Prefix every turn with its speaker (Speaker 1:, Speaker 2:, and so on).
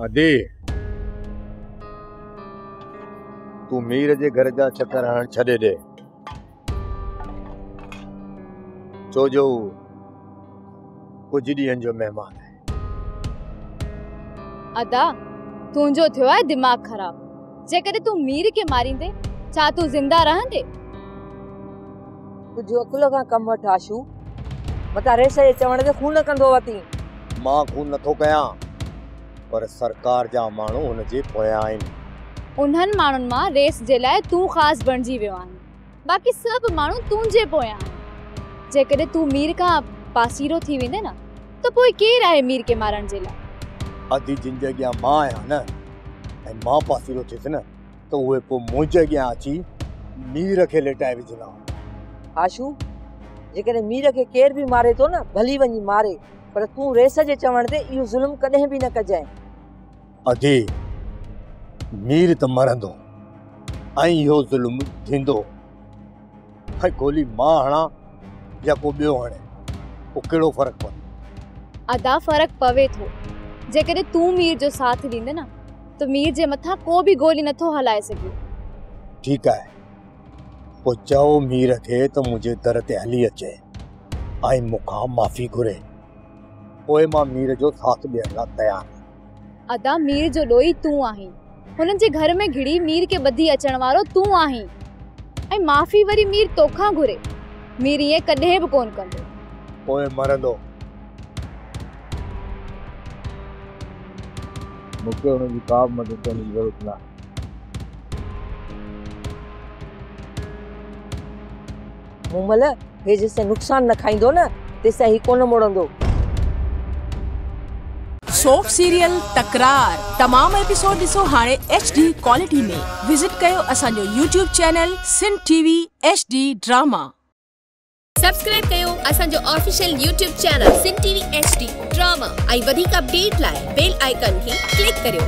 Speaker 1: ادي! تون مير جي گهر جا چڪر هڻڻ ڇڏي ڏي. ڇو جو هو ڪجهه ڏينهن جو مهمان آهي.
Speaker 2: ادا! تنهنجو ٿيو آهي دماغ خراب. جيڪڏهن تون مير کي ماريندين، ڇا تون زنده رهندين؟
Speaker 3: تنهنجي عقل کان ڪم وٺ آشو. متان ريشي جي چوڻ تي خون ڪندو وتين. مان خون نه
Speaker 1: ٿو ڪيان پر سرڪار جا ماڻهو هن جي پويان آهن. انهن ماڻهن
Speaker 2: مان ريس جي لاء تون خاص بڻجي ويو آهين. باقي سڀ ماڻهو تنهنجي پويان آهن. جيڪڏهن تون مير کان پاسيرو ٿي ويندين نه ته پوء ڪير آهي مير کي مارڻ جي لاء. ادي جن جي اڳيان
Speaker 1: مان آهيان نه ۽ مان پاسيرو ٿيس نه. ته اهي پوء منهنجي اڳيان اچي مير کي ليٽائي وجهندا هئا. هاشو،
Speaker 3: جيڪڏهن مير کي ڪير به ماري ٿو نه، ڀلي وڃي ماري، پر تون رئيس جي چوڻ تي اهو ظلم ڪڏهن به نه ڪجانء. ادي،
Speaker 1: مير ته مرندو ۽ اهو ظلم ٿيندو. اهي گولي مان هڻان يا ڪو ٻيو هڻي پوء ڪهڙو فرق پوندو؟ ادا فرق
Speaker 2: پوي ٿو جيڪڏهن تون مير جو ساٿ ڏيندين نه ته مير جي مٿان ڪو به گولي نٿو هلائي سگهي. ٺيڪ آهي
Speaker 1: پوء چئو مير کي ته منهنجي در تي هلي اچي ۽ مون کان معافي گهري پوء مان مير جو ساٿ ڏيڻ لاء تيار آهيان. ادا مير جو ڏوهي
Speaker 2: تون آهين هنن جي گهر ۾ گهڙي مير کي ٻڌي اچڻ وارو تون آهين ۽ معافي وري مير توکان گهري مير ائين ڪڏهن به ڪونه ڪندو. پوء مرندو.
Speaker 1: مون کي ان جي ڪا به مدد ڪرڻ جي ضرورت ناهي.
Speaker 3: مومل، هي جيستائين نقصان نه کائيندو نه، تيستائين هي ڪونه مڙندو.
Speaker 4: سوپ سيريل تڪرار تمام ايپيسوڊ ڏسو هاڻي ايڇ ڊي ڪوالٽي ۾ وزٽ ڪيو اسان جو YouTube channel Sindh T V H D drama.
Speaker 5: Subscribe ڪيو اسان جو official YouTube channel Sindh T V H D drama ۽ وڌيڪ اپڊيٽ لاء بيل آئيڪان کي ڪلڪ ڪريو.